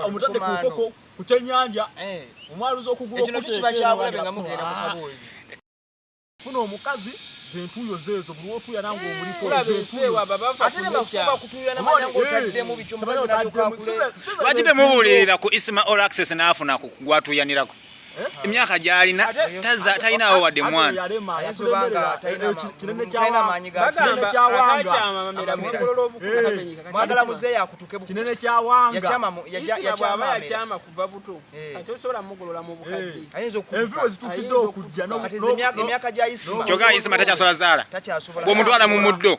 omutadde ku nkoko ku kyennyanja eh. omwaluza okugula okufuna omukazi zentuyo zezo buli otuya nange eh, omulikowakitemubuulirira ku isma all access naafuna kugwatuyanirako emyaka gyalina talinawo wadde mwana kyoka isima takyasola zaala bwomutwala mu muddo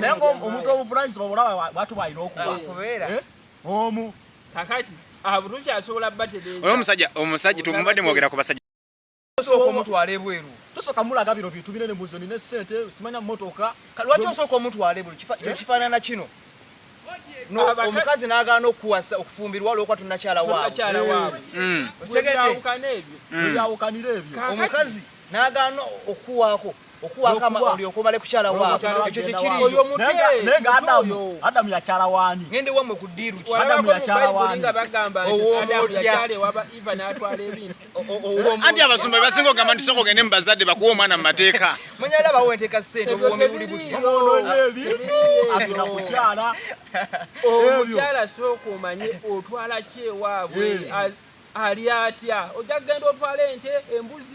naye omuntu omuvunanyizibwa olaba bwatu bwalina okuba omu kakati abutuki asobola batereeza omusajja omusajja tumubadde mwogera ku basajja osooka omutwala ebweru tosooka mulaga biro bintu binene muzo nina esente simanya motoka lwaki osooka omutwala ebweru kyekifaanana kino omukazi nagaana okuwasa okufumbirwa olwokuba tunakyala waabwe mm. okitegedde mm. omukazi nagaana okuwaako okuwakama olyoka omale kukyala waabo ekyo tekiriyoadamu yakyala waani ngende wamwe ku ddiiru ki adamu yakyala waani anti abasumba bebasinga okugamba nti soka ogende mu bazadde bakuwa omwana mu mateeka manyala bawo enteeka sente obuwomi buli butya agenda kukyala omukyala sooka omanye otwala kyewaabwe eh. ali atya ojja kugenda otwala ente embuzi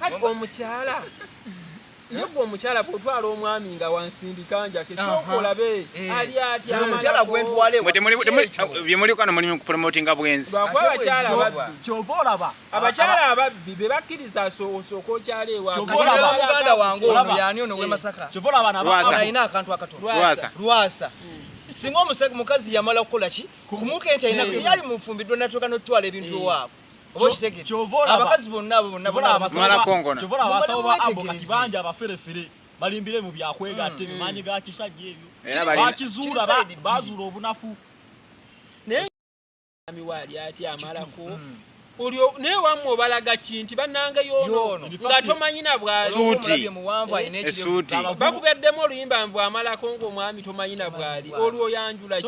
kati omukyala ye gwe omukyala bwotwala omwami nga wansindika njake sooka olabe eh. ali atyabyemulikono eh, mulimu kupromotinga bwenzi kyova olaba abakyala ababbi be bakkiriza osooka okyala ewamuganda wange ono yani ono wemasaka eh. kyova olaba alina akantu akatolwasa singa omusajja mukazi yamala kukola ki kumuka ente alina teyali mufumbiddwa natuuka notutwala ebintu ewaabwe abakazi bonna abo bonnaabakibanja abaferefere balimbire mu byakwegatta ebyo mm. maanyi ga kisajja ebyo bakizuula bazuula obunafu naye miwaali ati amalako mm. olyo naye wamwe obalaga ki nti banange yono nga tomanyi na bwalibakubeddemu oluyimba mbu amalako ngaomwami tomanyi na bwali olwo oyanjula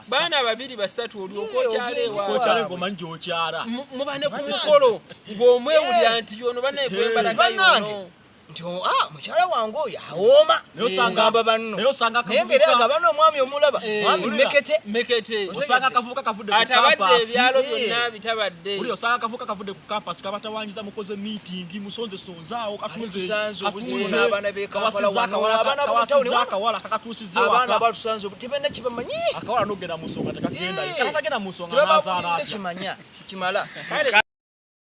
baana babiri basatu olyokokyalewamubanekumukolo ng'omwewulira nti yono banaye gwebalagayono nti oh, ah, mukyala wange oyo awooma nosangamba eh, banno naye ngeri agaba n'omwami omulaba eh, mwami meketewosanga akavubuka akavubuka kavudde ku kampasi kabatawanyiza mukoze miitingi musonzesonzaawo katunzeakawala kakatuusizeabaana batusanze tibena kibamanyi akawala nogenda mu nsonga tekagenda eh, mu nsonga nazaalaakimanya kimala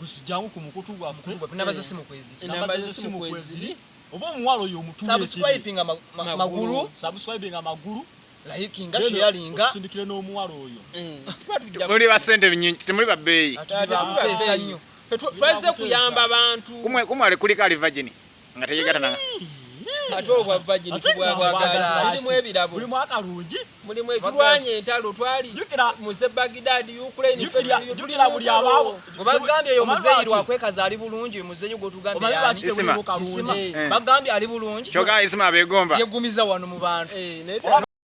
gusijangu ku mukutu gwaffe nabaza simu kweziri nabaza simu kweziri oba omuwalo yo mutu subscribing maguru subscribing maguru like nga share nga sindikire no omuwalo oyo mm. muri ba sente nyinyi muri ba bei atuli ba pesa nyo tweze kuyamba abantu kumwe kumwe ali kulika ali virgin nga teyegatana ate obwa vagini tubwabwagalimu ebirabo buli mwaka lungi buli mwe tulwanye entalo twali muze bagidadi ukraine jukira buli abawo bagambye yo muzeyi lwakwekaza ali bulungi muzeyi gwotugambye bagambye ali bulungi kyoga isima abegomba yegumiza wano mu bantu eh,